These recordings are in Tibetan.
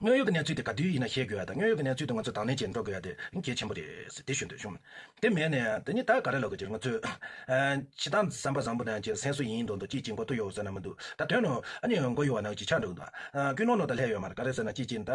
དངོས་ཡོད་ཀྱི་གནས་ཚུལ་དེ་ག་དུས་ཡིན་ན་ཤེས་དགོས་ཡ་དང་དངོས་ཡོད་ཀྱི་གནས་ཚུལ་དུ་ང་ཚོས་དང་ལེན་བྱེད་འགྲོ་དགོས་ཡ་དེ་གལ་ཆེན་པོ་རེད། དེ་ཞུ་འདོད་བྱུང། དེ་མེད་ནས་དེ་གཉིས་ད་ག་རེ་ལོག་གི་རེད་ང་ཚོས། བྱེད་སྟངས་བསམ་པ་བཟང་པོ་ནང་གྱི་སེམས་སུ་ཡིན་མདོག་མདོག་ཅིག་ཅིག་མགོ་ཐུག་ཡོད་ཟེར་ན་མི་འདུག་ད་དོན་ནོ། ཨ་ནི་མགོ་ཡོད་བ་ནང་གི་ཆགས་འགྲོ་གི་འདུག་ཨ། ཀུན་སློང་ནོ་ད་ལྷད་ཡོད་མ་རེད་ག་རེ་ཟེར་ན་ཅིག་ཅིག་ནི་ད་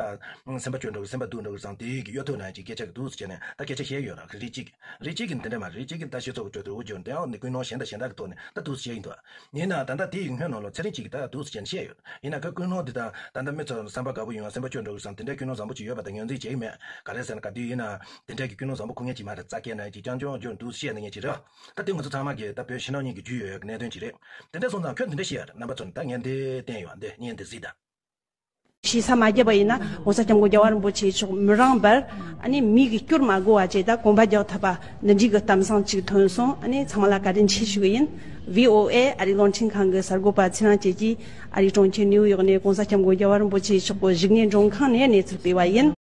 སེམས་པ་སྐྱོ་འགྲོ་གི་སེམས་པ་སྡུག་འགྲོ་གི་བཟང་དེ་གི་གཡོ་ཐོས་ནང་གི་སྐད་ཆ་གི་འདུག་ཟེར་བྱས་ནས་ད་སྐད་ཆ་བཤད་ཡོད་ར་གི་རེད་ཅིག་རེད་ཅིག་གི་འདི་འདྲ་མ་རེད་ཅིག་གི་ད་སྤྱི་ཚོགས་ཀྱི་གྲོས་བསྡུར་འོག་གྱུར་འདི་འོག་ནི་ཀུན་སློང་གཞན་དང་གཞན་དག་གི་ཐོག་ནས་ད་འདུག་ཟེར་བྱས་ཡིན་འདུག། ཡིན་ནའང་ད་ལྟ་དེ་ཡི་སྔོན་ནང་ལོ་ཚད་རིང་གཅིག་གི་ད་འདུག་ཟེར་མཁན་བཤད་ཡོད། ཡིན་ན་ག་ཀུན་སློང་འདི་དང་ད་ལྟ་མི་ཚོར་བསམ་པ་དགའ་པོ་ཡོང་ཡང་སེམས་པ་སྐྱོ་འགྲོ་གི་བསམ་དེ་འདྲའི་ཀུན་སློང་བཟང་པོ་ཅིག་ཡོད་པ་དང་ངོས་འཛིན་བྱེད་ཀྱི་མེད། ག་རེད་ཟེར་ན་ག་དུས་ཡིན་ནའང་དེ་འདྲའི་གི་ཀུན་སློང་བཟང་པོ་ཁུ་ངལ་གྱིས་མ་རེད་རྩ་སྐྱེས་ནང་གི་ཀྱང་ཅུང་འགྱུར་འདུག་བཤད་ནི་ངས་བྱེད་རོགས། ད་དེ་ངོ་ཚ་ཚང་མ་གིས་ད་བོད་ཕྱི་ནང་གཉིས་ཀྱི་རྒྱུས་ཡོད་གནད་དོན་ཅིག་རེད། དེ་འདྲ་སོང་ཙང་ཁྱོད་འདི་འདྲ་བཤད་ཡོད་རེད་རྣམ་པ་ཚོར་ད་ངས་འདི་བསྟན་ཡོད་འདི་ངས་འདི་གཟིགས་ད། ཞེས་ས་མ་བརྒྱབ་པ་ཡིན་ན ྋགོང་ས ྋསྐྱབས་མགོན་རྒྱལ་བ་རིན་པོ་ཆེ་མཆོག་མི་རངས་པར་མིག་གི་སྐྱུར་མ་སྒུར་བ་བཅས་དང་གོམ་པ་རྒྱག་ཐུབ་པ་འདི་འགྲིག་གི་གཏམ་བཟང་ཅིག་ཐོན་སོང་ཚང་མ་ལ་བཀའ་དྲིན་ཆེ་ཞུ་གི་ཡིན། VOA ཨ་རིའི་གློག་འཕྲིན་ཁང་གི་གསར་འགོད་པ་ཚེ་རང་བཅས་ཀྱིས་ཨ་རིའི་གྲོང་ཁྱེར་ནིའུ་ཡོག་ནས ྋགོང་ས ྋསྐྱབས་མགོན་རྒྱལ་བ་རིན་པོ་ཆེ་མཆོག་གི་བཞུགས་གནས་མགྲོན་ཁང་ནས་གནས་ཚུལ་སྤེལ་བ་ཡིན།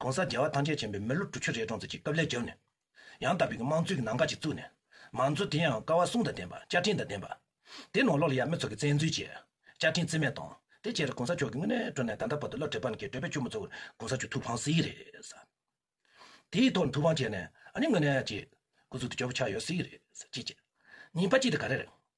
ྋགོང་ས་རྒྱལ་བ་ཐང་ཆེན་བྱོན་པའི་མི་ལོ་དྲུག་ཅུ་རེ་གྲོངས་ཚར་གྱི་སྐབས་ལས་བརྒྱབ་ནས། ཡང་དག་པའི་དམངས་གཙོའི་གི་ནང་དགའ་ཅིག་བཙུགས་ནས། མང་གཙོ་དེའང་དཀའ་བ་གསུང་དང་ལྡན་པ་བཅའ་ཁྲིམས་དང་ལྡན་པ། དེ་ནང་ལོགས་ལ་ཡང་མི་ཚོགས་ཀྱི་བཙན་འཛུལ་བྱས། བཅའ་ཁྲིམས་བརྩི་མེད་བཏང། དེ་ཕྱིར ྋགོང་ས་མཆོག་གི་དངོས་གནས་སྤྲོ་ནས་ད་ལྟ་བར་དུ་བླ་བྲེ་པ་ནག་གི་བགྲོད་པས་ཆུ་མོ་གཙོ་བོར ྋགོང་ས་མཆོག་ཐུགས་ཕངས་སྲིད་རེད་ས། དེའི་ཐོག་ནས་ཐུགས་ཕངས་བྱས་ནས་ཨ་ནི་དངོས་གནས་ཀྱི ྋསྐུ་གཟུགས་དེ་སྐྱོ་བོ་ཆགས་ཡོད་སྲིད་རེད་ཅེས་བཤད། ཉིན་ཕ་གཅིག་དེ་ག་རེ་རེད།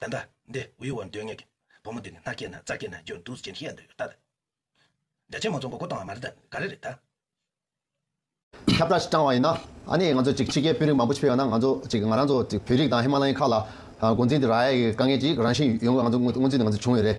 ད་ལྟ་འདི་དབུལ་བོར་འདོད་ངེས་ཀྱི་བུ་མོ་འདི་ནི་སྣ་སྐྱེས་ན་རྩ་སྐྱེས་ན་རྒྱུ་འདུག་ཅེས་ཤེས་ཡ་འདོད་ཡོད་ད། རྒྱ་ཆེན་མང་ཚོགས་མགོ་སྐོར་བཏང་བ་མ་རེད་ད་ག་རེ་རེད་ད། ཁྱབ་བསྒྲགས་ཤིག་བསྐྲངས་བ་ཡིན་ན། ཨ་ནི་ང་ཚོ་ཅིག་ཕྱི་རྒྱལ་དཔོན་རིགས་མང་པོ་ཕྱི་ཕེབས་ཡོང་ན་ང་ཚོ་ཅིག་ང་རང་ཚོ་ཅིག་བོད་རིགས་དང་ཧི་མ་ལ་ཡའི་ཁག་ལ་འགོ་འཛིན་དེ་ར་ཡའི་དཀའ་ངལ་ཅིག་རང་བཞིན་ཡོང་དགོས་ང་ཚོ་སྔོན་རྩིས་ནས་ང་ཚོ་བྱུང་ཡོད་རེད།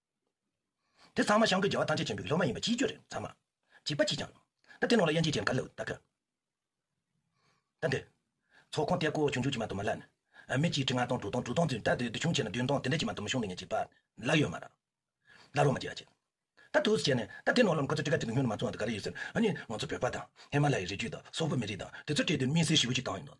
དེ་ཚང་མ་ཤངས་པའི་རྒྱལ་བ་ཐང་ཆེན་ཆེན་པོའི་སློབ་མ་ཡིན་པ་ཅིའི་རྒྱུ་རེད་ཚང་མ། འཇིགས་པ་ཅིས་ཀྱང། ད་དེ་ནང་ལ་ཡན་ཆད་ཅན་ག་ལེའུ་ད་ག། ད་འདི། ཚོགས་ཁང་གཏེར་སྒོ་བྱུང་འཇུག་ཅིག་མ་དུ་མ་ལ། མི་གཅིག་ཁྲི་ལྔ་སྟོང་དྲུག་སྟོང་དྲུག་སྟོང་ཚུན་ད་དེ་དུ་བྱུང་བྱས་ན་བདུན་སྟོང་དེ་འདྲ་ཅིག་མ་དུ་མ་བྱུང་འདི་ཉིད་ཅིག་པ། ལ་ཡོད་མ་ར། ལ་རོ་མ་ཅིག་ཨ་ཅིག། ད་དུ་བྱས་ནས་ད་དེ་ནང་ལ་ཁོ་ཚོ་ཏི་ཀ་ཏི་ཀ་ཉུང་ན་མ་ཚུགས་ཨ་ད་ག་རེ་ཡོད་ཟེར་ཨ་ནི་ང་ཚོ་བོད་པ་དང་ཧེ་མ་ལ་ཡའི་རི་རྒྱུད་དང་སོག་པོ་མི་རིགས་དང་དེ་ཚོ་སྤྲད་དུས་སྨིན་སེར་ཞི་བོ་ཅིག་བཏང་ཡོད་འདུག།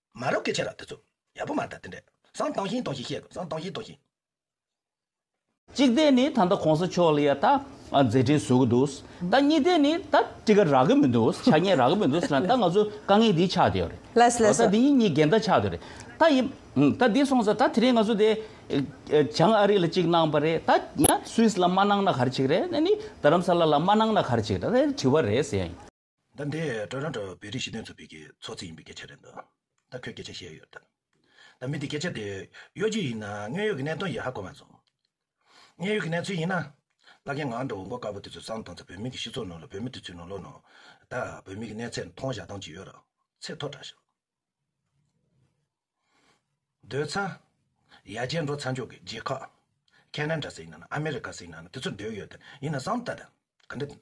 མ་རབས་ཀྱི་ཆེ་ར་དེ་ཚོ། ཡག་པོ་མ་རེད་ད་དེ་འདྲས་བཟང་དང་ཞིན་དང་ཞིན་བཤད་དགོས་བཟང་དང་ཞིན་དང་ཞིན། གཅིག་དེ་ནི་ད་ལྟ་གོང་ས་མཆོག་ལ་ཡ་ད་མཛད་འཕྲིན་བཟོ་གི་འདུག་ད་གཉིས་དེ་ནི་ད་དཀྲི་ཁ་རག་གི་མི་འདུག་ཆ་ཉེས་རག་གི་མི་འདུག་ཟེར་ན་ད་ང་ཚོ་དཀའ་ངལ་འདི་ཆགས་འདི་ཡོད་རེད་ལེས་ལེས་ད་འདི་གཉིས་གཉིས་འགལ་ཟླ་ཆགས་འདི་རེད་ད་ཡིན་ད་འདི་སོང་ཟེར་ད་དེ་རིང་ང་ཚོ་དེ་བྱང་ཨ་རི་ལ་གཅིག་གནང་པ་རེད་ད་ཡ་སུའིས་ལ་མ་གནང་ན་གར་ཆིག་རེད་ད་ནི་རྡ་རམ་ས་ལ་ལ་མ་གནང་ན་གར་ཆིག་རེད་ད་དེ་དྲི་བ་རེད་ཟེར་ཡ་ཡིན། ད་འདི་དྲ་རང་དྲ་བའི་རིགས་ཞི་དོན་ཚོ་པི་གི་ཚོགས་རྩིས་ཡིན་པའི་སྐད་ཆ་རེད་འདུག་ད་ཁོས་སྐད་ཆ་བཤད་ཡོད་དམ། ད་མི་འདི་སྐད་ཆ་དེ་གཡོ་སྒྱུ་ཡིན་ན་དངོས་ཡོད་ཀྱི་གནད་དོན་ཡིད་ཧ་གོ་མ་སོང། དངོས་ཡོད་ཀྱི་གནས་ཚུལ་ཡིན་ན། བླ་རྒན་ངག་འདྲ་བོ་མགོ་དཀར་པོ་དེ་ཚོས་གསང་བཏང་ཚེ་བོད་མི་གི་སྤྱི་ཚོགས་ནང་ལ་བོད་མི་དེ་ཚོའི་ནང་ལོག་ནང་ད་བོད་མི་གི་གནས་ཚད་མཐོང་བཞག་སྟངས་ཅི་ཡོད་རག་ཚེ་མཐོ་དྲག་ཞག། སྡོད་ས། ཡ་རྗེས་འགྲོ་ཚ་མཆོག་གི་རྗེས་ཁག། ཁ་ནན་དྲ་སེ་ཡིན་ནམ་ཨ་མེ་རི་ཀ་སེ་ཡིན་ནམ་དེ་ཚོ་སྡོད་ཡོད་དམ་ཡིན་ན་གསང་བཏད་དམ་ག་འདྲ་དེ་འདུག།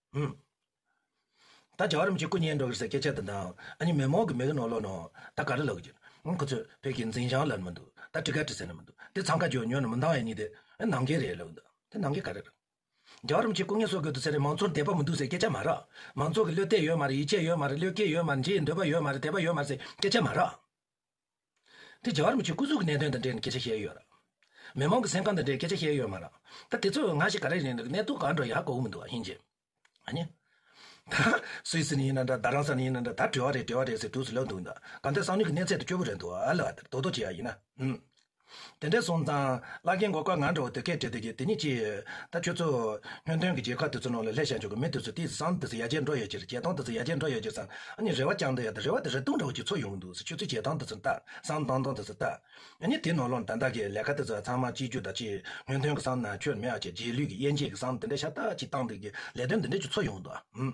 ཧཱུྃ། ད་བྱ་བ་རིམ་གྱིས་སྐུ་བརྙན་འགྲོ་གིར་ཟེར་སྐད་ཆ་འདི་འདྲ་ཨ་ཉི་མེ་མོག་གི་མིག་གི་ནང་ལོག་ནོ། ད་ག་རེ་ལོག་གི་རྒྱུ། ཁོ་ཚོས་བོད་ཀྱི་འཛིན་བྱང་ལར་མི་འདུག་ད་དྲི་ཁ་དྲི་ཟེར་ནི་མི་འདུག་དེ་ཚང་ཁ་རྒྱོ་ཉོ་ནི་མི་འདང་ཨེ་ནི་དེ་ནང་གི་རེད་ལོག་འདུག་དེ་ནང་གི་ག་རེ་རེད། བྱ་བ་རིམ་གྱིས་སྐུ་བརྙན་གསོ་དགོས་འདུག་ཟེར་ནི་མང་ཚོགས་འདས་པ་མི་འདུག་ཟེར་སྐད་ཆ་མ་རག། མང་ཚོགས་ཀྱི་བློས་གཏད་ཡོད་མ་རེད་ཡིད་ཆེས་ཡོད་མ་རེད་བློས་སྐྱེས་ཡོད་མ་རེད་འདྲིའི་འདོད་པ་ཡོད་མ་རེད་དད་པ་ཡོད་མ་རེད་ཟེར་སྐད་ཆ་མ་རག། དེ་རྒྱ་གར་མི་ཆོས་སྐུ་གཟུགས་ཀྱི་གནད་དོན་དང་འབྲེལ་ནས་སྐད་ཆ་བཤད་ཡོད་ར། མི་མང་གི་སེམས་ཁམས་དང་འབྲེལ་སྐད་ཆ་བཤད་ཡོད་མ་ར། ད་དེ་ཚོས་ང་ཞིག་ག་རེ་རེད་འདུག་གནད་དོན་གང་འགྲོ་ཡག་གོ་གི་མི་འདུག་ཨ་ཧྱིན་ཅི། ད་སུའི་སེམས་ཡིན་ན་འདྲ་ད་རང་སེམས་ཡིན་ན་འདྲ་ད་བྲེལ་བ་རེད་བྲེལ་བ་རེད་ཟེར་དུས་སུ་ལབ་འདུག་ད་ལྟ་སང་ཉིན་གྱི་གནས་ཚད་དེ་སྐྱོ་པོ་རེད་འདུག་ཨ་ལ་བ་དེར་དོག་དོག་བྱེད་ཡག་ཡིན་ན། དེ་འདྲས་སོང་ཙང། བླ་རྒན་མགོ་སྐོར་ང་འགྲོ་བ་དུས་སྐད་བྲེལ་དུས་ཀྱི་དེ་གཉིས་ཅི། ད་ཁྱོད་ཚོ། སྨྱོན་དོན་གྱི་རྗེས་ཁ་དུས་ཚོ་ནང་ལ་སླེབས་ཤར་འཇུག་གི་མི་དུས་ཚོ་དེའི་སང་དུས་ཚོ་ཡ་རྗེས་འགྲོ་ཡོད་ཅེར་རྗེས་ཐང་དུས་ཚོ་ཡ་རྗེས་འགྲོ་ཡོད་ཅེར་ཙང་ཨ་ནི་རེ་བ་བཅང་འདོད་ཡ་དེ་རེ་བ་དེ་རེ་ལྟུང་འགྲོ་གི་ཚོ་ཡོང་གི་འདུག་ཁྱོད་ཚོས་རྗེས་ཐང་དུས་ཚོ་ལྟ་སང་ལྟང་སྟོང་དུས་ཚོ་ལྟ། ཨ་ནི་དེ་ནང་ལོག་ན་ད་ལྟ་གི་ལས་ཀ་དུས་ཚོ་ཚང་མ་སྤྱི་རྒྱུ་དང་སྤྱི། སྨྱོན་དོན་གྱི་སང་ན་ཁྱོད་མེད་ཨ་ཅེར་རྗེས་ལུས་ཀྱི་དབྱེ་འབྱེད་ཀྱི་སང་དེ་འདྲས་ཤ་སྟག་ཅིག་བཏང་དུས་ཀྱི་ལས་དོན་དེ་འདྲས་ཀྱི་ཚོ་ཡོང་གི་འདུག་ཨ།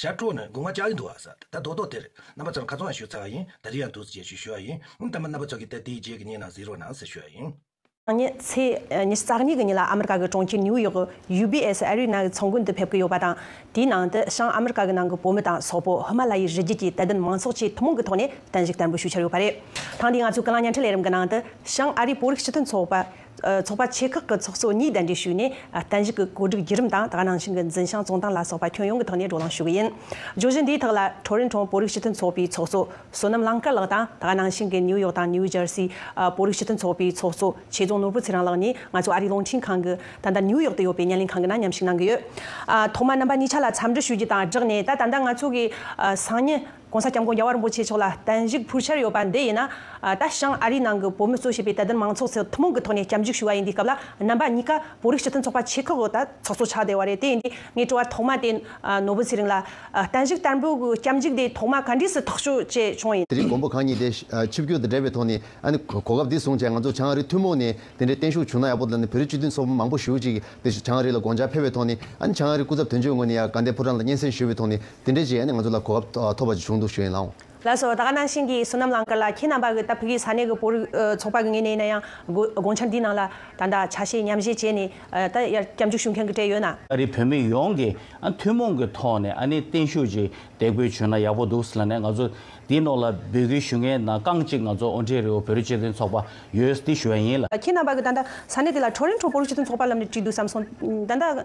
ཞབས་བྲོ་ནི་དགུང་ང་བཅག་ཡིན་འདུག་ཨ་ཟ་ད་རྡོག་རྡོག་དེར་རྣམ་པ་ཙམ་ཁ་ཙོང་ཡང་ཞུ་ཚར་བ་ཡིན་ད་རི་ཡང་འདུག་ཟེར་ཞེས་ཞུ་བ་ཡིན་ཨང་གཏམ་མ་རྣམ་པ་ཙམ་གྱིས་ད་དེའི་རྗེས་ཀྱི་ཉིན་ནང་གཟིགས་རོགས་གནང་ཟེར་ཞུ་བ་ཡིན། ཚང་མས་ཚེས་ཉེར་གསང་གཉིས་ཀྱི་ཉིན་ལ་ཨ་མེ་རི་ཀ་གི་གྲོང་ཁྱེར་ནིའུ་ཡོག་གི UBS Arena གི་ཚོང་དགོན་དུ་ཕེབས་ཀྱི་ཡོད་པ་དང། དེའི་ནང་དུ་བྱང་ཨ་མེ་རི་ཀ་གི་ནང་གི་བོད་མི་དང་སོག་པོ་ཧི་མ་ལ་ཡའི་རི་རྒྱུད་ཀྱི་དད་ལྡན་མང་ཚོགས་བཅས་ཐུན་མོང་གི་ཐོག་ནས་གདན་ཞུ་བསྟར་འབུལ་ཞུ་འཆར་ཡོད་པ་རེད། ཐེངས་འདིའི་ང་ཚོའི་སྐུ་ལམ་བརྙན་འཕྲིན་ལས་རིམ་གྱི་ནང་དུ་བྱང་ཨ་རིའི་བོད་རིགས་སྤྱི་མཐུན་ཚོགས་པ། ཚོགས་པ་ཆེ་ཁག་གི་ཚོགས་གཙོ་གཉིས་གདན་འདྲེན་ཞུས་ནས་གཏན་གཞི་གི་བཀོད་སྒྲིག་བརྒྱུད་རིམ་དང་དགའ་སྣང་ཞིང་གི་འཛིན་ཞང་རྫོང་ཏང་ལ་སོགས་པ་ཁྱོན་ཡོངས་ཀྱི་ཐོག་ནས་བགྲོ་གླེང་ཞུ་གི་ཡིན། བརྗོད་གཞི་འདིའི་ཐོག་ལ་ཁྲོ་རིན་གྲོང་བོད་རིགས་སྤྱི་མཐུན་ཚོགས་པའི་ཚོགས་གཙོ་བསོད་ནམས་གླང་དཀར་ལགས་དང་དགའ་སྣང་ཞིང་གི་ནིའུ་ཡོག་དང་ནིའུ་ཇར་སི་བོད་རིགས་སྤྱི་མཐུན་ཚོགས་པའི་ཚོགས་གཙོ་ཆོས་རྫོང་ནོར་བུ་ཚེ་རིང་ལགས་གཉིས་ང་ཚོ་ཨ་རིའི་རླུང་འཕྲིན་ཁང་གི་ད་ལྟ་ནིའུ་ཡོག་ཏུ་ཡོད་པའི་བརྙན་ལེན་ཁང་གི་ནང་མཉམ་ཞུགས་གནང་གི་ཡོད། ཐོག་མར་རྣམ་པ་གཉིས་ཆ་ལ་འཚམས་འདྲི་ཞུ་རྒྱུ་དང་སྦྲགས་ནས་ད་ད་ལྟ་ང་ཚོ་གི་སང་ཉིན་གོང་ས་སྐྱབས་མགོན་རྒྱལ་བ་རིན་པོ་ཆེ་མཆོག་ལ་བརྟན་བཞུགས་ཕུལ་འཆར་ཡོད་པ་འདི་ཡིན་ན། ད་ཞང་ཨ་རིའི་ནང་གི་བོད་མི་གཙོས་བྱས་པའི་དད་ལྡན་མང་ཚོགས་ཚོས་ཐུན་མོང་གི་ཐོག་ནས་སྐྱབས་འཇུག་ཞུ་བ་ཡིན་དེའི་སྐབས་ལ་རྣམ་པ་གཉིས་ཀ་བོད་རིགས་སྤྱི་མཐུན་ཚོགས་པ་ཆེ་ཁག་གིས་ད་ཚོགས་གཙོ་ཆགས་བསྡད་བ་རེད་དེ་ཡིན་དུས་ངའི་སྤྲོ་བ་ཐོག་མ་དེ་ནོར་བུ་ཚེ་རིང་ལ་བརྟན་བཞུགས་བསྟར་འབུལ་གྱི་སྐྱབས་འཇུག་དེ་ཐོག་མ་ག་འདྲིས་སུ་ཐག་གཅོད་བྱས་བྱུང་ཡིན། དེ་རིང་མགོན་པོ་གང་ཉིད་དེ་ཆིབས་བསྒྱུར་དང་འབྲེལ་བའི་ཐོག་ནས་གོ་སྐབས་འདི་བཟུང་བྱས་ང་ཚོ་བྱང་ཨ་རི་ཐུན་མོང་ནས་དེ་འདྲའི་བརྟན་བཞུགས་བྱུང་ན་ཡག་པོ་འདུག་བོད་རིགས་སྤྱི་མཐུན་ཚོགས་པ་མང་པོ་ཞུགས་ཅིག་དེ་བྱང་ཨ་རི་ལ་དགོངས་འཆར་ཕེབས་པའི་ཐོག་ནས་བྱང་ཨ་རི་སྐུ་ཚབ་དོན་གཅོད་ངོས་ནས་ཡ་དགའ་འདས་ཕོ་བྲང་ལ་སྙན་སེང་ཞུས་པའི་ཐོག་ནས་དེ་འདྲའི་རྗེས་ནས་ང་ཚོ་ལ་གོ་སྐབས་ཐོབ་པ་ཅིག་བྱུང་འདུག་ཞུ་ཡིན་ནའང། ལགས་སོ། ད་ག་ནང་བཞིན་གྱི་བསོད་ནམས་གླང་དཀར་ལགས་ཁྱེད་རྣམ་པ་གི་ད་བོད་ཀྱི་ས་གནས་ཀྱི་བོར་ཚོགས་པ་གི་ངེས་ནས་ཡིན་ན་ཡང་དགོངས་འཆར་འདིའི་ནང་ལ་ད་ལྟ་ཆ་ཤས་ཉམས་བཞེས་བྱས་ནས་ད་ཡར་སྐྱབས་འཇུག་ཞུ་མཁན་གྱི་གྲས་ཡོད་ན། ཨ་རིའི་བོད་མི་ཡོངས་ཀྱི་ཐུན་མོང་གི་ཐོག་ནས་ཨ་ནེ་བརྟན་བཞུགས་ཀྱི་འདེགས་འབུལ་ཞུས་ན་ཡག་པོ་འདུག་ལ་ནས་ང་ཚོ་འདིའི་ནང་ལ་འབོད་སྐུལ་ཞུ་མཁན་ནང་རྐང་གཅིག་ང་ཚོ་ཨོ་འགྲེ་རི་བོ་བོད་རིགས་སྤྱི་མཐུན་ཚོགས་པ་ཡོད་འདི་ཞུ་བ་ཡིན་ལ། ཁྱེད་རྣམ་པ་གི་ད་ལྟ་ས་གནས་དེ་ལ་ཁྲོ་རིན་ཁྲོ་བོ་རིགས་སྤྱི་མཐུན་ཚོགས་པ་ལམ་ནས་བྲིས་འདུག་བསམ་སོང། ད་ལྟ།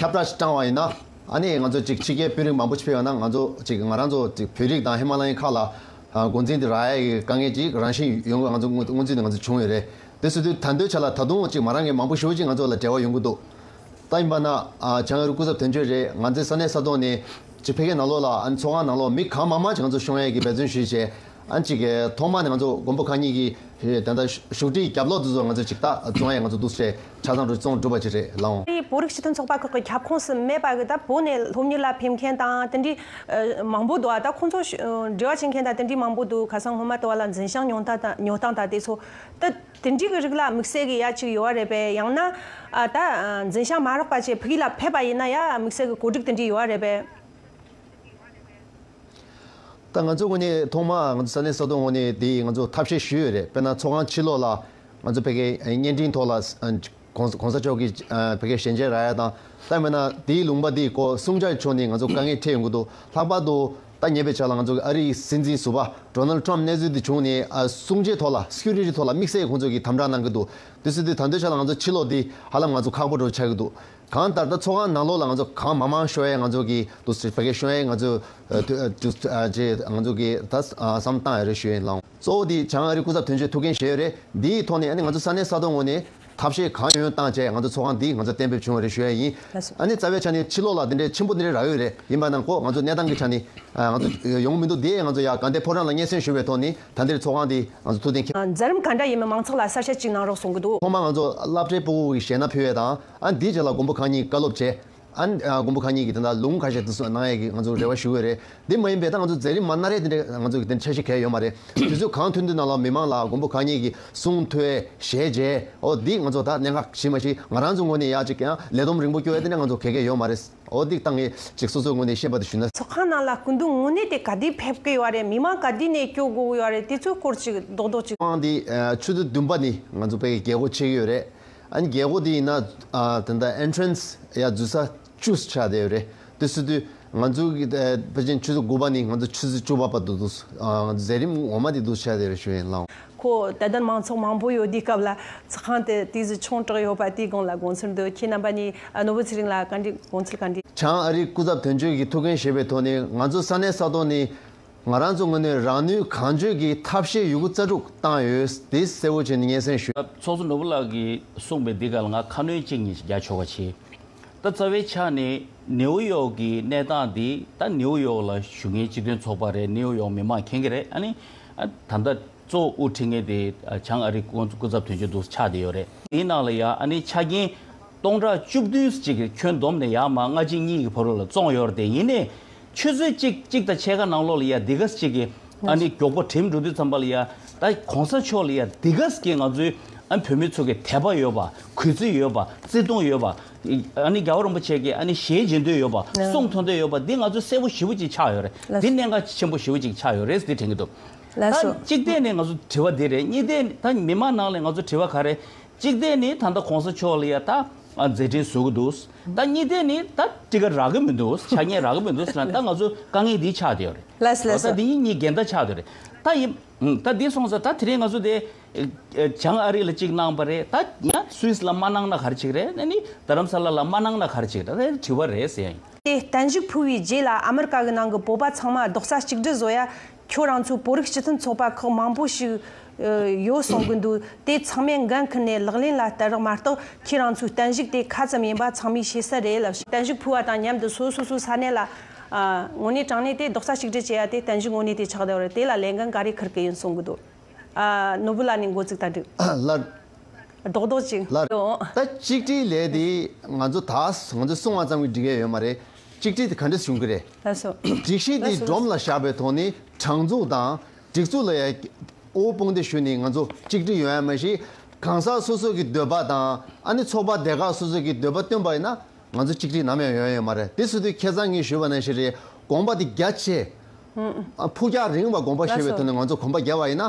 ཁྱབ་བསྒྲགས་ཤིག་བསྐྲངས་བ་ཡིན་ན། ཨ་ནེ་ང་ཚོ་ཅིག་ཕྱི་རྒྱལ་དཔོན་རིགས་མང་པོ་ཕྱི་ཕེབས་ན་ང་ཚོ་ཅིག་ང་རང་ཚོ་ཅིག་བོད་རིགས་དང་ཧི་མ་ལ་ཡན་ཁག་ལ་འགོ་འཛིན་དེ་ར་ཡའི་གི་དཀའ་ངལ་ཅིག་རང་བཞིན་ཡོང་གི་ང་ཚོ་དངོས་དངོས་འཛིན་དེ་ང་ཚོ་བྱུང་ཡོད་རེད་དེ་སུ་དུས་ད་འདོད་ཆགས་ལ་ད་དུང་ཅིག་མ་རང་གི་མང་པོ་ཞུ་ཅིག་ང་ཚོ་ལ་འབྲེལ་བ་ཡོང་གི་འདུག་ད་ཡིན་པ་ན་བྱང་ཡུ་རུ་སྐུ་ཚབ་དོན་གཅོད་རེད་ང་ཚེ་ས་གནས་ས་ཐོག་ནས་ཅིག་ཕེབས་མཁན་ནང་ལོགས་ལ་ཨ་ནེ་ཚོགས་ཁང་ནང་ལོགས་མི་གང་མང་མང་ཅིག་ང་ཚོ་ཤོང་ཡས་གི་འབད་བརྩོན་ཞུས་བྱས་ཨང་གཅིག་གི་ཐོག་མ་ནས་ང་ཚོ་མགོན་པོ་ཁང་གཉིས་ཀྱི་དེ་ལྟར་བཞུགས་ཁྲིའི་རྒྱབ་ལོག་དུ་ཚོ་ང་ཚོ་ཅིག་ལྟག་རྫོང་ཡ་ང་ཚོ་འདུག་སའི་ཆ་ཚང་རུ་ཙོང་སྒྲུབ་པ་ཅིག་རེད་ལའང། དེའི་བོད་རིགས་སྤྱི་མཐུན་ཚོགས་པ་ཁག་གི་ཁྱབ་ཁོངས་སུ་མེད་པ་ད་བོད་ནས་སློབ་གཉེར་ལ་ཕེབས་མཁན་དང་དེ་འདྲའི་མང་པོ་འདུག་ད་ཁོང་ཚོ་འབྲེལ་བ་བྱེད་མཁན་དང་དེ་འདྲའི་མང་པོ་འདུག་ཁ་སང་སྔོན་མ་ལྟ་བ་ལ་འཛིན་ཞང་ཉོ་སྟངས་དང་དེ་ཚོ་ད་དེ་འདྲའི་རིགས་ལ་དམིགས་བསལ་གྱི་ཡ་གཅིག་ཡོད་བ་རེད་པས་ཡང་ན་ད་འཛིན་ཞང་མ་རག་པ་བཅས་བོད་ཡིག་ལ་ཕེབས་པ་ཡིན་ན་ཡ་དམིགས་བསལ་གྱི་གོ་སྒྲིག་དེ་འདྲའི་ཡོད་བ་རེད་པས། ད་ང་ཚོས་ངོས་ནས་ཐོག་མར་ང་ཚོ་ས་གནས་ས་ཐོག་ངོས་ནས་དེའི་ང་ཚོ་ཐབས་ཤེས་ཞུས་ཡོད་རེད་དཔེར་ན་ཚོགས་ཁང་ཕྱི་ལོགས་ལ་ང་ཚོ་བོད་སྐད་བརྙན་འཕྲིན་ཐོག་ལ་གོང་གོང་ས་མཆོག་གིས་བོད་སྐད་ཞལ་མཇལ་ར་ཡ་དང་ལྟ་མེད་ན་དེའི་ལུང་པ་དེའི་སྐོར་གསུང་བྱ་ཆོག་ནི་ང་ཚོ་དཀའ་ངལ་འཕྲད་ཡོང་གི་འདུག་ལྷག་པར་དུ་ད་ཉེ་བའི་ཆར་ལ་ང་ཚོ་གི་ཨ་རིའི་སྲིད་འཛིན་ཟུར་པ Donald Trump གནས་ཚུལ་དེ་བྱུང་ནས་གསུང་བྱའི་ཐོག་ལ Security ཐོག་ལ་དམིགས་བསལ་ཁོང་ཚོ་གིས་དམ་དྲག་གནང་གི་འདུག་དུས་ཚོད་དེ་ད་འདོད་ཆགས་ལ་ང་ཚོ་ཕྱི་ལོགས་འདི་ཧ་ལམ་ང་ཚོ་ཁག་པོ་འགྲོ་བར་ཆགས་ཀྱི་འདུག་གང་ལྟར་ད་ཚོགས་ཁང་ནང་ལོགས་ལ་ང་ཚོ་གང་མང་མང་ཤོད་ཡས་ང་ཚོ་གི་དུ་སི་བྷ་གས་ཤོད་ཡས་ང་ཚོ་དུ་སི་བྷ་གས་ང་ཚོ་གི་ད་བསམ་བཏང་ཡས་རེད་ཤོད་ཡས་ལང། གཙོ་བོ་དེ་བྱང་ཨ་རི་སྐུ་ཚབ་དོན་གཅོད་ཐུགས་འགན་བཞེས་ཡས་རེད་དེའི་ཐོག་ནས་ཨ་ནི་ང་ཚོ་ས་གནས་ས་ཐོག་ངོས་ནས་ཐབས་ཤེས་གང་ཡོད་ཡོད་བཏང་བྱས་ཡས་ང་ཚོ་ཚོགས་ཁང་འདི་ང་ཚོ་གཏན་འབེབས་བྱུང་བ་རེད་ཤོད་ཡས་ཡིན། ཨ་ནི་རྩ་བའི་ཆ་ནས་ཕྱི་ལོགས་ལ་འདི་འདྲའི་ཆེན་པོ་འདི་འདྲའི་ར་ཡོད་རེད་ཡིན་པ་ནང་ཁོག་ང་ཚོ་གནས་སྟངས་ཀྱི་ཆ་ནས་ང་ཚོ་ཡོང་གི་མི་འདུག་དེ་ཡས་ང་ཚོ་ཡ་ག་འདས་ཕོ་བྲང་ལ་སྙན་སེང་ཞུ་བའི་ཐོག་ནས་ད་འདིར་ཚོགས་ཁང་འདི་ང་ཚོ་ཐུགས་གཏན་འཁེལ། འཛམ་གང་འདྲ་ཡིན་མིན་མང་ཚོགས་ལ་གསར་བཤད་ཅིག་གནང་རོགས་གསུང་གི་འདུག། ཐོག་མར་ང་ཚོ་བླ་བྲེ་སྤུ་བོ་གིས་བཞེས་ན་ཕུལ་བས་དང། ཨ་འདིའི་རྗེས་ལ་མགོན་པོ་གང་ཉིད་བཀའ་སློབ་བྱས། ཨ། མགོན་པོ་གང་ཉིད་ཀྱིས་དེ་འདྲ་ལུང་ག་ཞིག་བསྟན་ནའི་ཡ་གི་ང་ཚོར་རེ་བ་ཞུ་འོས་རེད། དེ་མ་ཡིན་པའི་ད་ང་ཚོ་མཛད་རིམ་མ་ན་རེ་དེ་འདྲའི་ང་ཚོ་གི་དེ་འདྲ་འཆར་གཞི་གལ་ཡོད་མ་རེད། དུས་ཚོད་གང་ཐུན་དུ་གནང་ལ་མི་མང་ལ་མགོན་པོ་གང་ཉིད་ཀྱི་གསུང་ཐོས་ཞལ་མཇལ། ཨོ་འདིས་ང་ཚོ་ད་གནད་འགག་ཞིག་མ་ཞིག་ང་རང་ཚོའི་ངོས་ནས་ཡ་ཅིག་ལས་བསྡོམས་རིང་པོ་སྐྱོ་བས་དེ་འདྲ་ང་ཚོ་གལ་གལ་ཡོད་མ་རེད། ཨོ་འདི་ལྟ་ངེས་ཅིག་སོ་སོའི་ངོས་ནས་ཤེས་པ་དེ་ཞུས་ན། ཚོགས་ཁང་ནང་ལ་སྐུ་མདུན་དངོས་གནས་དེ་ག་དུས་ཕེབས་ཀྱི་ཡོད་རེད་མི་མང་ག་དུས་ནས་སྐྱོ་དགོས་ཀྱི་ཡོད་རེད་དེ་ཚོའི་སྐོར་ཅིག་རྡོག་རྡོག་ཅིག། དཔང་འདི་ཆུ་ཚོད་བདུན་པ་ནི་ང་ཚོ་དཔལ་གྱི་རྒྱལ་སྒོ་ཕྱེ་གི་ཡོད་རེད། ཨ་ནི་རྒྱལ་སྒོ་དེ་ཡིན་ན་དེ་ལྟ Entrance ཡ་འཛུལ་ས Choose བྱ་དེ་རེད་དེ་སུ་དུས་ང་ཚོ་པེ་ཅིན་ཆུ་ཚོད་དགུ་པ་ནི་ང་ཚོ་ཆུ་ཚོད་བཅུ་པ་པ་དུ་འདུག་ཟས་རིམ་ངོ་མ་དེ་འདུག་བྱ་དེ་རེད་ཞུ་ཡིན་ལང། ཁོ་ད་ལྟ་མང་ཚོགས་མང་པོ་ཡོད་དུས་སྐབས་ལ་ཚོགས་ཁང་དེ་དུས་སུ་ཆུང་དྲགས་ཡོད་པ་དེའི་དགོངས་ལ་དགོངས་ཚུལ་འདུག་ཁྱེད་རྣམ་པ་ནི་ནོར་བུ་ཚེ་རིང་ལ་ག་འདྲི་དགོངས་ཚུལ་ག་འདྲི། བྱང་ཨ་རིའི་སྐུ་ཚབ་དོན་གཅོད་ཀྱི་ཐུགས་འགན་བཞེས་པའི་ཐོག་ནས་ང་ཚོ་ས་གནས་ས་ཐོག་ནས། ང་རང་ཚོ་ངོས་ནས་རང་ནུས་གང་ཅོལ་གྱིས་ཐབས་ཤེས་ཡོད་རྒུ་རྩལ་སྤྲུགས་བཏང་ཡོད་དེ་གསལ་བོ་བྱས་ནས་སྙན་སེང་ཞུ། ཚོགས་གཙོ་ནོར་བུ་ལགས་ཀྱིས་གསུངས་པའི་འདི་ག་ལ་ང་ཁ་སྣོན་གཅིག་གཉིས་ཤིག་རྒྱག་ཆོག་པ་བྱེད། ད་རྩ་བའི་ཆ་ནས་ནེའུ་ཡོག་གི་གནས་སྟངས་འདི་ད་ནེའུ་ཡོག་ལ་ཞུགས་མཁན་སྤྱི་དོན་ཚོགས་པ་རེད་ནེའུ་ཡོག་མི་མང་མཁྱེན་གྱི་རེད་ཨ་ནི། ད་ལྟ་གཙོ་བོ་དབུ་ཁྲིད་མཁན་དེ་བྱང་ཨ་རི་སྐུ་ཚབ་དོན་གཅོད་འདུག་ཆགས་བསྡད་ཡོད་རེད། དེའི་ནང་ལ་ཡ་ཨ་ནི་ཆ་རྐྱེན་སྟོང་ཕྲག་བཅུ་བདུན་ཅིག་ཁྱོན་བསྡོམས་ནས་ཡ་མ་ལྔ་གཅིག་གཉིས་ཀྱི་བར་ལ་བཙོངས་ཡོད་རེད་དེ་ཡིན་ནས། ཆུ་ཚོད་གཅིག་གཅིག་དང་ཕྱེད་ཀ་ནང་ལོགས་ལ་ཡ་དེ་ག་ཟེ་གཅིག་གིས་ཨ་ནི་མགྱོགས་པོ་དྲིལ་འགྲོ་དུས་ཙམ་པ་ལ་ཡ་ད་གོང་ས་མཆོག་ལ་ཡ་དེ་ག་ཟེ་གིས་ང་ཚོའི་ཨ་ནི་བོད་མི་ཚོ་གིས་དད་པ་ཡོད་པ་གུས་བརྩི་ཡོད་པ་བརྩི་མཐོང་ཡོད་པ་ཨ་ནི་རྒྱ་བོ་རིན་པོ་ཆེ་གིས་ཨ་ནི་ཞལ་འབྱེད་འདོད་ཡོད་པ་གསུང་ཐོ་འདོད་ཡོད་པ་འདི་ང་ཚོའི་གསལ་པོ་ཞི་བོ་ཅིག་ཆགས་ཡོད་རེད་འདི་གནད་འགག་ཆེན་པོ་ཞི་བོ་ཅིག་ཆགས་ཡོད་རེད་འདི་དྲན་གི་འདུག་ད་གཅིག་བལྟས་ནས་ང་ཚོ་དྲི་བ་འདི་རེད་གཉིས་བལྟས་ད་མི་མང་ནང་ལས་ང་ཚོ་དྲི་བ་ག་རེ་གཅིག་དེ་ནི་ད་ལྟ་གོང་ས་མཆོག་ལ་ཡ་ད་མཛད་འཕྲིན་བཟོ་གི་འདུག་ད་གཉིས་དེ་ནི་ད་སྤྲི་ག་རག་གི་མི་འདུག་ཆ་ཉེ་རག་གི་མི་འདུག་ད་ང་ཚོ་དཀའ་ངལ་འདི་ཆགས་ཡོད་རེད་ད་འདི་གཉིས་གཉིས་འགལ་ཟླ་ཆགས་ཡོད་རེད་ད་ཡིན་ད་འདི་སོང་ཟེར་ད་དེ་རིང་ང་ཚོ་དེ་བྱང་ཨ་རི་ལ་གཅིག་གནང་པ་རེད་ད་ཡ་སུས་ལ་མ་གནང་ན་གར་ཆིག་རེད་ད་ནི་དྷ་རམ་ས་ལ་ལ་མ་གནང་ན་གར་ཆིག་རེད་ད་དྲི་བ་རེད་ཟེར། དེ་བརྟན་བཞུགས་ཕུལ་བའི་རྗེས་ལ་ཨ་མི་རི་ཀ་གི་ནང་གི་བོད་པ་ཚང་མ་རྡོག་རྩ་གཅིག་སྒྲིལ་བཟོ་ཡ་ཁྱོད་རང་ཚོའི་བོད་རིགས་སྤྱི་མཐུན་ཚོགས་པ་ཁག་མང་པོ་ཞིག་ཡོད་གསུང་གི་འདུག་དེ་ཚང་མས་འགན་འཁུར་ནས་ལག་ལེན་ལ་བསྟར་རོགས་མ་གཏོགས་ཁྱེད་རང་ཚོའི་བསྟན་བཤིག་དེ་ག་ཙམ་ཡིན་པ་ཚང་མས་ཤེས་གསལ་རེད། བསྟན་བཤིག་ཕུལ་བ་དང་མཉམ་དུ་སོ་སོ་སོའི་ས་གནས་ལ། དངོས་གནས་དྲང་གནས་དེ་རྡོག་རྩ་གཅིག་སྒྲིལ་བྱས་ཡ་དེ་བསྟན་བཤིག་དངོས་གནས་དེ་ཆགས་བསྡད་པ་རེད་དེ་ལ་ལས་འགན་ག་རེ་འཁུར་གི་ཡིན་གསུང་གི་འདུག། ནོར་བུ་ལགས་ནས་འགོ་བཙུགས་དང་འགྲིག། རྡོག་རྡོག་ཅིག། ལ། ད་གཅིག་སྒྲིལ་ལས་དེ་ང་ཚོ་དག་ང་ཚོས་གསུང་བ་ཙམ་གྱིས་འགྲིག་ཡ་ཡོད་མ་རེད། གཅིག་དྲིལ་དེ་ག་འདྲས་བྱུང་གི་རེད། སྒྲིག་གཞི་འདི་སྒྲོམ་ལ་བཞག་པའི་ཐོག་ནས་དྲང་ཚུགས་དང། སྒྲིག་ཚུགས་ལ་ཡ། ཨོའོ་དཔུང་སྡེ་ཞུ་ནས་ང་ཚོ་གཅིག་སྒྲིལ་ཡོང་ཡ་མ་ཤེས། གང་ཟག་སོ་སོ་གི་འདོད་པ་དང། ཨ་ནི་ཚོགས་པ་སྡེ་ཁག་སོ་སོ་གི་འདོད་པ་བཏོན་པ་ཡིན་ན། ང་ཚོ་གཅིག་སྒྲིལ་ནམ་ཡང་ཡོང་ཡས་མ་རེད་དེ་སུ་དུས་ཁྱེད་ཚང་གིས་ཞུས་པ་ན་ཤེས་རེད་དགོངས་པ་དེ་རྒྱ་ཆེ། ཕུགས་རྒྱང་རིང་བ་དགོངས་པ་བཞེས་པའི་ཐོག་ནས་ང་ཚོ་གོམ་པ་རྒྱ་བ་ཡིན་ན།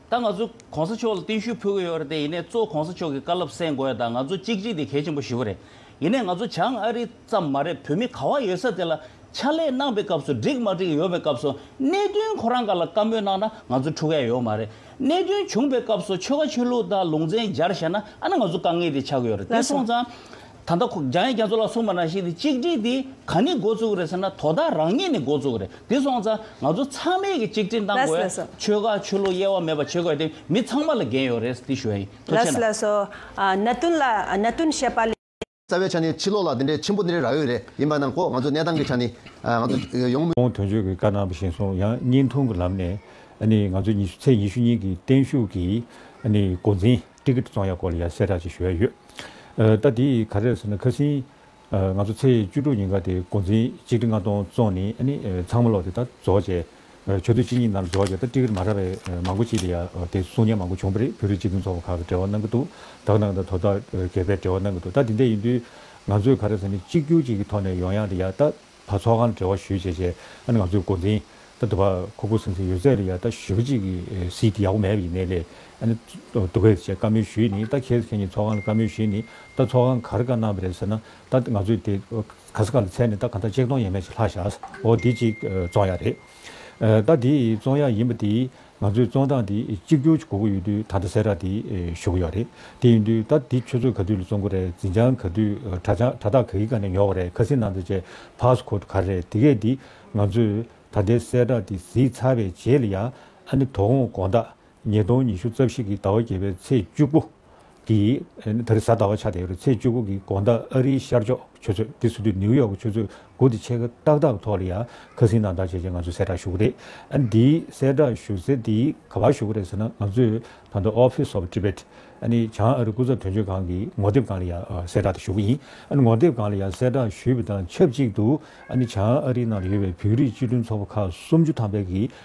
ད་ང་ཚོས་གོང་ས་མཆོག་ལ་བརྟན་བཞུགས་ཕུལ་གི་ཡོད་རེད་དེ་ཡིན་ནས་གཙོ་བོ་གོང་ས་མཆོག་གི་བཀའ་སློབ་གསན་དགོས་ཡ་ད་ང་ཚོ་གཅིག་གཅིག་དེ་གལ་ཆེན་པོ་ཞུ་གི་རེད་ཡིན་ནས་ང་ཚོ་བྱང་ཨ་རི་ཙམ་མ་རེད་བོད་མི་ག་བ་ཡོད་ས་དེ་ལ་ཕྱག་ལས་གནང་པའི་སྐབས་སུ་འགྲིག་མ་འགྲིག་ཡོད་པའི་སྐབས་སུ་གནད་དོན་ཁོ་རང་ག་ལ་བཀའ་མོལ་གནང་ན་ང་ཚོ་འཁྲུག་ག་ཡ་ཡོད་མ་རེད་གནད་དོན་བྱུང་པའི་སྐབས་སུ་ཆོལ་ཁ་ཆོས་ལུགས་དང་ལུང་ཚན་སྦྱར་བཤད་ན་ཨ་ན་ང་ཚོ་དཀའ་ངལ་དེ་ཆགས་ཀྱི་ཡོད་རེད་དེ་སོང་ཙང། ད་ལྟ་ཁོ་རྒྱ་ཡན་རྒྱ་མཚོ་ལ་སོང་པ་ན་ཞིག་ནས་གཅིག་སྒྲིལ་དེ་ག་ནས་འགོ་བཙུགས་རེད་ཟེར་ན་དོ་བདག་རང་ཉིད་ནས་འགོ་བཙུགས་རེད་དེ་སོང་ཙང་ང་ཚོ་ཚང་མས་ཀྱི་གཅིག་སྒྲིལ་གནང་དགོས་ཡ་ཆོལ་ཁ་ཆོས་ལུགས་དབྱེ་བ་མེད་པ་བྱེད་དགོས་ཡ་དེ་མི་ཚང་མ་ལ་འགན་ཡོད་རེད་དེ་ཞུ་བ་ཡིན་ཐུགས་ཆེ་ན། གནད་དོན་ལ་གནད་དོན་བཤད་པ་ལས། རྩ་བའི་ཆ་ནས་ཕྱི་ལོགས་ལ་འདི་འདྲའི་ཆེན་པོ་འདི་འདྲའི་ར་འོས་རེད་ཡིན་པ་ནང་ཁོག་ང་ཚོའི་གནས་སྟངས་ཀྱི་ཆ་ནས་ང་ཚོ་ཡོང། ཁོང་དོན་གཅོད་ཀྱི་བཀའ་གནང་བ་བཞིན་སོང་ཡང་བརྙན་ཐུང་གི་ལམ་ནས་ནི་ང་ཚོ་ཚེས་ཉི་ཤུ་ཉིན་གྱི་བརྟན་བཞུགས་ཀྱི་ནི་འགོ་འཛིན། ཀྲི་ཀིརྟི་ཙོང་ཡ་སྐོར་ལ་ཡང་གསལ་བསྒྲགས་ཅིག་ཞུ་ཡ་ཡོད། ད་འདི་ག་རེད་ཟེར་ན་ཁ་སིན། ང་ཚོ་ཚེས་བཅུ་དྲུག་ཉིན་ག་དེ་འགོ་འཛིན་གཅིག་ཁྲི་ལྔ་སྟོང་བཙོང་ནི་ནི་ཚང་མ་ལོག་དེ་ད་རྫོགས་བྱས། ཆོས་དུས་གཅིག་གཉིས་ནང་རྫོགས་བྱས་ད་ཀྲི་ཀིར་མ་ར་བའི་མང་པོ་ཅིག་དེ་ཡ་དེ་གསུང་སྙན་མང་པོ་བྱུང་པ་རེད་བོད་རིགས་སྤྱི་མཐུན་ཚོགས་པ་ཁག་གི་འབྲེལ་བ་གནང་གི་འདུག་དག་སྣང་དང་དོ་བདག་གེ་པའི་འབྲེལ་བ་གནང་གི་འདུག་ད་འདི་འད་ཡིན་དུས་ང་ཚོས་ག་རེ་ཟེར་ནི་གཅིག་གྱུར་ཅིག་གི་ཐོག་ནས་ཡོང་ཡག་དེ་ཡ་ད། བ་ཚོགས་ཁང་འབྲེལ་བ་ཞུས་བྱས་བྱས་ཨ་ནི་ང་ཚོས་འགོ་འཛིན་ད་དུ་བ་ཁུ་ཁུ་སིང་སིང་ཡོད་ཚད་རེད་ཡ་ད་ཞོད་ཅིག་གི་སིད་ཀི་ཡག་པོ་མེད་པ་ཡིན་ནའི་ལས་ཨ་ནི་དུ་བེད་བྱས་བཀའ་མོལ་ཞུས་ནི་ད་ཁྱེད་ཚོ་ཁྱེད་གཉིས་ཚོགས་ཁང་ལ་བཀའ་མོལ་ཞུས་ནི་ད་ཚོགས་ཁང་གར་བཀའ་གནང་བ་རེད་ཟེར་ན་ད་ང་ཚོས་དེ་ག་ས་ག་ལ་ཚད་ནི་ད་ག་ད་ཅེག་སྟོང་ཡས་མས་ཅིག་ལྷག་བཞག་ཨོ་དེ་ཅིག་བཙོང་ཡག་རེད། ཟླ་འདིའི་རྩོང་ཡ་ཡིན་པ་དེས་ང་ཚོའི་རྩོང་སྟངས་དེ་གཅིག་གྱུར་གྱི་གོ་གི་ཡོད་དུས་ད་ལྟ་སེ་ར་དེ་ཞུ་གི་ཡོད་རེད་དེ་ཡིན་དུས་ད་འདི་ཁྱོད་ཚོས་ག་དུས་ལ་རྩོང་གི་རེད་འཛིན་བྱང་ག་དུས་དྲ་ཐག་ག་གི་ག་ནས་ཉོ་གི་རེད་ཁ་སིན་ནང་དུ་བྱས་ཕགས་ཁོ་ག་རེད་དེ་གས་དེ་ང་ཚོས་ད་ལྟའི་སེ་ར་དེ་གཟིགས་ཚར་བའི་རྗེས་ལ་ཡ་ཨ་ནི་དོ་དགོང་དགོང་དག་ཉིས་སྟོང་ཉི་ཤུ་རྩ་བཞི་གི་ཟླ་བ་བརྒྱད་པའི་ཚེས་བཅུ་དགུ། དེ་རིང་གཟའ་ཟླ་བ་ཆགས་ཏེ་ཡོད་རེད་ཚེས་བཅུ་དགུ་གི་དགོང་ཟླ་ཨ་རིའི་ཤར་ཕྱོགས་ཆུ་ཚོད་དེ་སུ་དུས་ནིའུ་ཡོག་གི་ཆུ་ཚོད་དགུ་དེ་ཆེད་མཁས་ཏག་ཏག་ཐོག་ལ་ཡང་ཁ་སིང་དང་དག་བྱས་རྗེས་ང་ཚོས་གསལ་བསྒྲགས་ཞུ་གི་རེད། འདི་གསལ་བསྒྲགས་ཞུ་ཚེ་འདི་ག་བར་ཞུ་གི་རེད་ཟེར་ན་ང་ཚོས་ད་དུང Office of Tibet བྱང་ཨ་རི་སྐུ་ཚབ་དོན་གཅོད་ཁང་གི་ངོ་དེབ་སྒང་ལ་ཡང་གསལ་བསྒྲགས་དེ་ཞུ་གི་ཡིན། ངོ་དེབ་སྒང་ལ་ཡང་གསལ་བསྒྲགས་ཞུས་པའི་དང་ཆབས་ཅིག་ཏུ་བྱང་ཨ་རིའི་ནང་ལ་ཡོད་པའི་བོད་རིགས་སྤྱི་མཐུན་ཚོགས་པ་ཁག་སུམ་ཅུ་ཐམ་པའི་གི